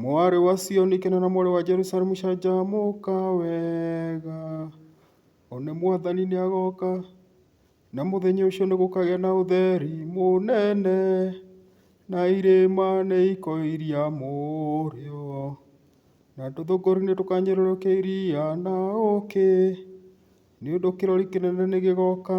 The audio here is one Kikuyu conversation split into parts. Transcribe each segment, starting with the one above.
Mwarĩ wa Sioni kena na mwarĩ wa Jerusalemu canjamũka wega, one Mwathani nĩ agoka, na mũthenya ũcio nĩ gũkagĩa na ũtheri mũnene, na irĩma nĩ ikoiria mũrĩo, na tũthũngũri nĩ tũkanyũrũrũkia iria na ũũkĩ, nĩ ũndũ kĩrori kĩnene nĩ gĩgoka.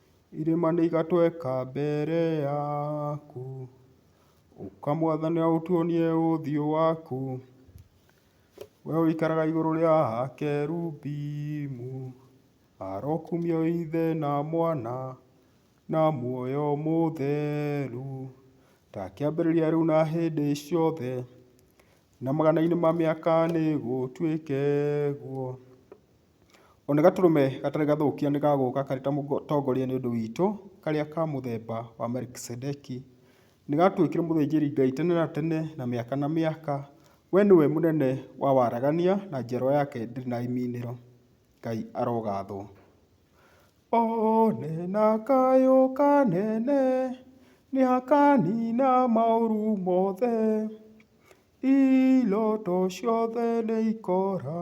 Irĩma nĩ igatweka mbere yaku, ũka mwathani ũtuonie ũthiũ waku, we ũikaraga igũrũ rĩa kerubimu, arokumia wĩ Ithe na Mwana na muoyo mũtheru, ta kĩambĩrĩria rĩu na hĩndĩ ciothe, na magana-inĩ ma mĩaka nĩgũtuĩke ũguo. Ona gatũrũme gatarĩ gathũkia nĩ gagũũka karĩ ta mũtongoria nĩ ũndũ witũ, karĩa ka mũthemba wa Melikisedeki. Nĩ gatuĩkire mũthĩnjĩri Ngai tene na tene na mĩaka na mĩaka. We nĩwe mũnene wa waragania na njiarwa yake ndĩrĩ na imiinĩro. Ngai arogathwo. One na kayũ kanene, nĩ akaniina maũru mothe. Iroto ciothe nĩ ikora,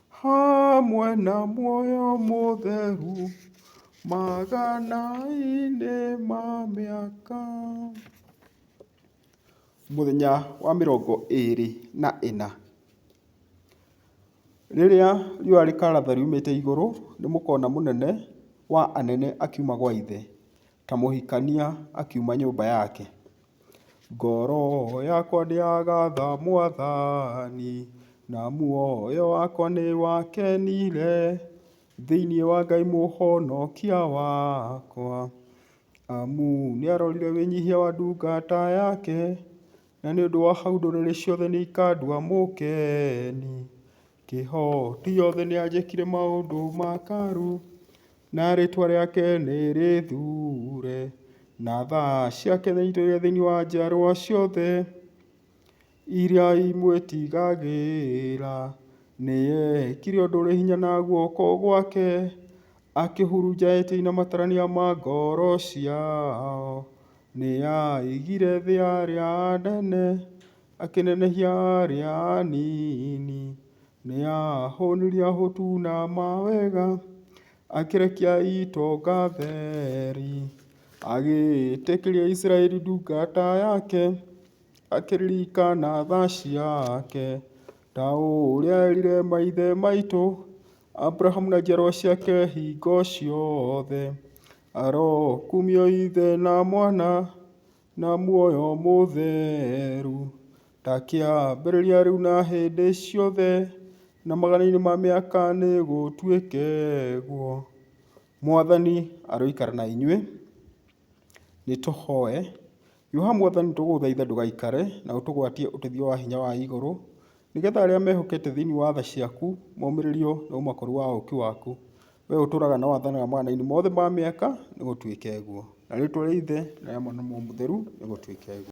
Hamwe na muoyo mũtheru, magana-inĩ ma mĩaka. Mũthenya wa mĩrongo ĩĩrĩ na ĩna, rĩrĩa riũa rĩkaratha riumĩte igũrũ, nĩmũkona mũnene wa anene akiuma gwa Ithe. Kamũhikania akiuma nyũmba yake. Ngoro yakwa ndĩragatha mwathani, na muoyo wakwa nĩ wakenire, thĩiniĩ wa Ngai mũhonokia wakwa. Amu nĩ arorire wĩnyihia wa ndungata yake, na nĩ ũndũ wa hau ndũrĩrĩ ciothe nĩ ikandua mũkeni. Kĩhoti gĩothe nĩanjĩkire maũndũ ma karu, na rĩtwa rĩake nĩrĩthuure, na tha ciake nĩaitũire thĩinĩ wa njiarwa ciothe iria imwĩtigagĩra. Nĩekire ũndũ ũrĩ hinya na guoko gwake, akĩhurunja etĩi na matarania ma ngoro ciao. Nĩaigire thĩ ya arĩa anene. Akĩnenehia arĩa anini, nĩ aahũnirie ahũtu na mawega, akĩrekia itonga theri. Agĩĩtĩkĩria Isiraeli ndungata yake, akĩririkana tha ciake, ta ũrĩa eerire maithe maitũ, Abrahamu na njiarwa ciake hingo ciothe. Arokumio Ithe na Mwana, Na muoyo mũtheru. Ta kĩambĩrĩria rĩu na hĩndĩ ciothe, na magana-inĩ ma mĩaka nĩgũtuĩke ũguo. Mwathani aroikara na inyuĩ. Nĩtũhoe. Hiũha Mwathani tũgũthaitha ndũgaikare, na ũtũgwatie ũteithio wa hinya wa igũrũ. Nĩ getha arĩa mehokete thĩinĩ wa tha ciaku momĩrĩrio nĩ ũmakũru wa ũũki waku. Wee ũtũũraga na wathanaga mawatho-inĩ mothe ma mĩaka, nĩgũtuĩke ũguo. Na rĩĩtwa rĩa Ithe, na rĩa Mwana, na Roho Mũtheru, nĩgũtuĩke ũguo.